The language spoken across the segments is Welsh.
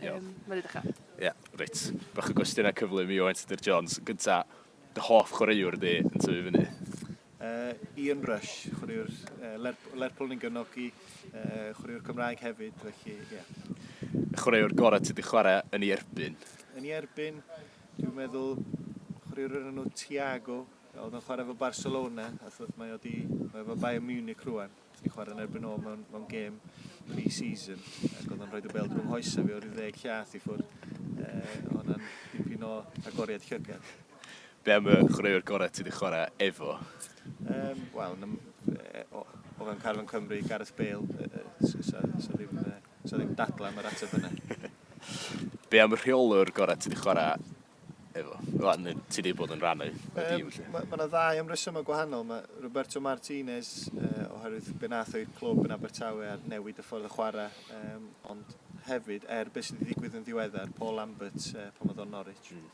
Iawn. Yym, ma'n edrych at. Ie, reit. Bach o gwestiynau cyflym i Owain Tudur Jones. Gynta, dy hoff chwaraewr di yn tyfu fyny? Uh, Ian Rush, chwaraewr uh, Lerp Lerpwl ni'n gefnogi, uh, chwaraewr Cymraeg hefyd, felly ie. Yeah. Y chwaraewr gorau ti di chwarae yn ei erbyn? Yn ei erbyn, dwi'n meddwl chwaraewr o'r enw Thiago, oedd yn chwarae fo Barcelona, a thwth mae o di, mae fo Bayern Munich rwan. Nathon ni chwarae yn erbyn ôl mewn, mewn gêm pre-season ac oedd o'n rhoi dy bel drwy nghoesau fi o ryw ddeg llath i ffwrdd. E, hwnna'n dipyn o agoriad llygad. Be am y chwaraewr gorau ti wedi chwarae efo? Um, Wel, e, o, o fewn carfan Cymru, Gareth Bale, e, e, sa, sa, ddim, e, sa ddim dadla am yr ateb yna. Be am y rheolwr gorau ti wedi chwarae efo. Wel, neu ti 'di bod yn rhan o'i dîm, Yym, felly. ma' ma' 'na ddau am resymau gwahanol. Mae Roberto Martinez, yy, oherwydd be nath o i'r clwb yn Abertawe a newid y ffordd o chwarae, yym, ond hefyd, er be sy 'di ddigwydd yn ddiweddar, Paul Lambert, yy, pan oedd o'n Norwich. Mm.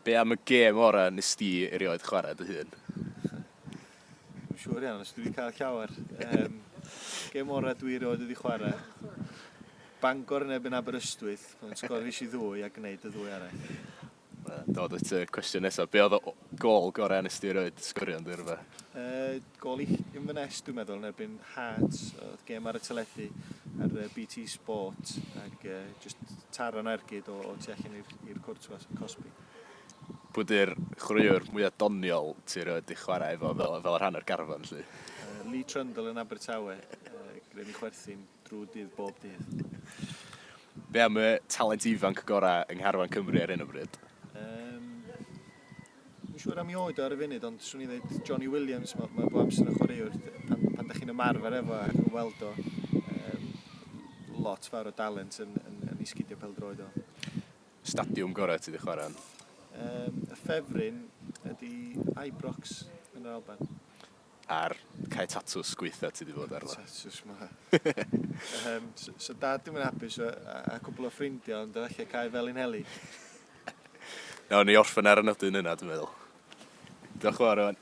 Be am y gêm ora' nes di erioed chwarae dy hun? Dwi'm yn siŵr iawn os dwi wedi cael llawer. Um, gem orau dwi erioed wedi chwarae. Bangor yn ebyn Aberystwyth, pan sgorfis i ddwy a gwneud y ddwy arall. Mae'n dod at y cwestiwn nesaf. Be oedd y gol gorau nes di erioed sgorio yn dyrfa? Uh, gol i Inverness, dwi'n meddwl, yn erbyn Hearts, oedd gem ar y teledu ar uh, BT Sport, ac uh, just taro'n ergyd o, o tu allan i'r cwrt cosbi. Pwy 'di'r chwaraewr mwya doniol ti rioed 'di chwarae efo fel fel rhan o'r garfan 'lly? Yy Lee Trundle yn Abertawe yy greu fy chwerthin drw'r dydd bob dydd. Be am y talent ifanc gora yng ngharfan Cymru ar hyn o bryd? Yym Dwi'm siŵr am 'i oed o ar y funud ond 'swn i'n ddeud Jonny Williams ma' ma' bob amser yn chwaraewr d- pan pan 'dach chi'n ymarfer efo a chi'n weld o yym lot fawr o dalent yn yn yn 'i sgidia pêl-droed o. stadiwm gorau ti wedi chwarae yn? Um, y ffefryn ydy Ibrox yn yr Alban. A'r cae tatws gweitha ti wedi bod arno? Tatws ma. um, so, so dad ddim yn hapus a, a cwbl o ffrindiau, ond efallai cae felin heli. Nawr ni orffen ar y nodyn yna, dwi'n meddwl. Diolch yn fawr, Ewan.